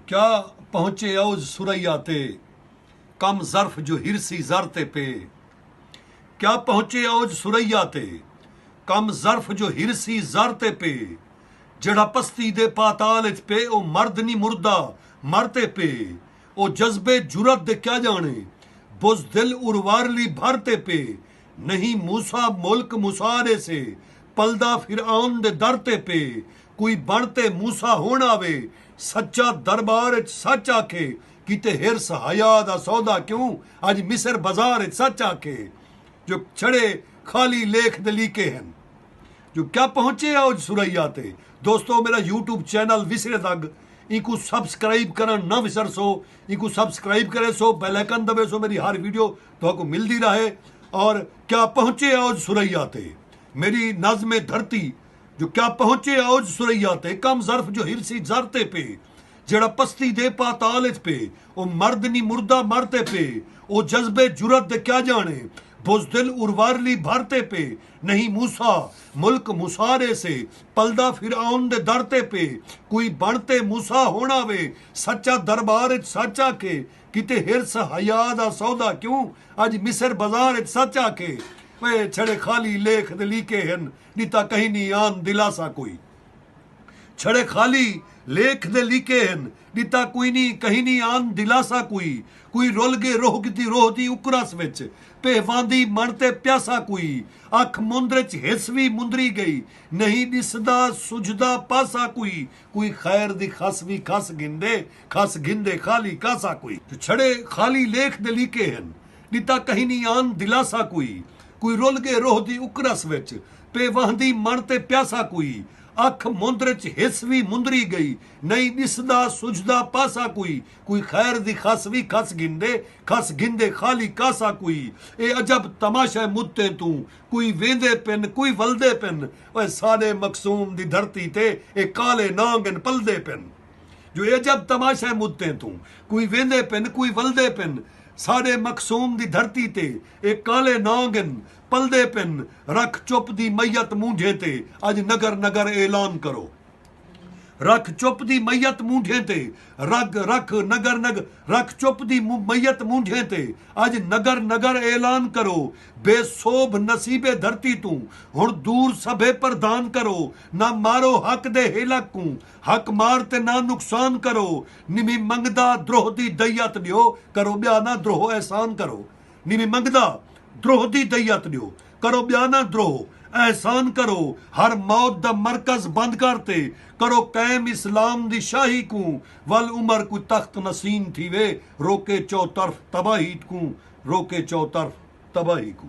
کیا پہنچے عوض ثریا تے کم ظرف جو ہرسی زر تے پے کیا پہنچے عوض ثریا تے کم ظرف جو ہرسی زر تے پے جیڑھا پستی دے پاتال اچ پے او مرد نی مردا مر تے پے او جذبے جرات دے کیا جانے بزدل اروارلی بھر تے پے نہیں موسی ملک مسا ݙے سے پلدا فرعون دے در تے پے کوئی بݨ تے موسی ہݨ آوے سچا دربار اچ سچ آکھے کیتے حرص حیا دا سودا کیوں اڄ مصر بازار اچ سچ آکھے جو چھڑے خالی لیکھ دے لیکے ہن جو کیا پہنچے اوج ثریا تے دوستو میرا یوٹیوب چینل وسرے دگ اینکوں سبسکرائب کرݨ نہ وسرسو اینکوں سبسکرائب کریسو بیل آئیکن دبیسو میری ہر ویڈیو تہاکوں ملدی راہے اور کیا پہنچے اوج ثریا تے میری نظم دھرتی جو کیا پہنچے اوج ثریا تے کم ظرف جو ہرسی زر تے پے جیڑھا پستی دے پاتال اچ پے او مرد نی مردہ مر تے پے او جذبے جرات دے کیا جانے بزدل اروارلی بھر تے پے نہیں موسی ملک مسار اے سے پلدا فرعون دے در تے پے کوئی بن تے موسی ہونا وے سچا دربار اچ سچ آکھے کیتے حرص حیا دا سودا کیوں اج مصر بازار اچ سچ آکھے پئے چھڑے خالی لیکھ تے لیکے ہن ݙتا کہیں نی آن دلاسہ کوئی چھڑے خالی لیکھ تے لیکے ہن ݙتا کوئی نی کہیں نی آن دلاسہ کوئی کوئی رل گے روہ کیتی روہ دی اکرس وچ پئے واندی مݨ تے پیاسہ کوئی اکھ مندر اچ حرص وی مندری گئی نہیں ݙسدا سجھدا پاسہ کوئی کوئی خیر دی خس وی کھس گھندے خس گھندے خالی کاسہ کوئی۔ چھڑے خالی لیکھ دے لیکے ہن ݙتا کہیں نی آن دلاسہ کوئی۔ کوئی رل ڳے روح دی اکرس وچ پے وہندی مݨ تے پیاسہ کوئی۔ اکھ مندر اچ ہس وی مندری ڳئی نئیں ݙسدا سجھدا پاسہ کوئی۔ کوئی خیر دی خس وی کھس گھندے خس گھندے خالی کاسہ کوئی۔ اے عجب تماشہ مدتیں توں کوئی ویندے پن کوئی ولدے پن اوئے ساݙے مقصوم دی دھرتی تے اے کالے نانگ ان پلدے پن جو اے عجب تماشہ اے مدتیں توں کوئی ویندے پن کوئی ولدے پن ساݙے مقصوم دی دھرتی تے اے کالے نانگ ان پلدے پن رکھ چپ دی میت مونجھیں تے اڄ نگر نگر اعلان کرو رکھ چپ دی میت مونڈھیں تے رگ رکھ نگر نگ رکھ چپ دی میت مونڈھیں تے اج نگر نگر اعلان کرو بے سوبھ نصیبے دھرتی توں ہن دور سبھے پردھان کرو نہ مارو حق دے ہیلک کوں حق مار تے نہ نقصان کرو نمھی منگدا دروہ دی دیت ڈیو کرو بیا نہ دروہ احسان کرو۔ نیویں منگدا دروہ دی دئیت ڈیو کرو بیا نہ دروہ احسان کرو ہر موت دا مرکز بند کر تے کرو قائم اسلام دی شاہی کوں ول عمر کوئی تخت نسین تھیوے روکے چو طرف تباہیت کوں روکے چو طرف تباہی کوں۔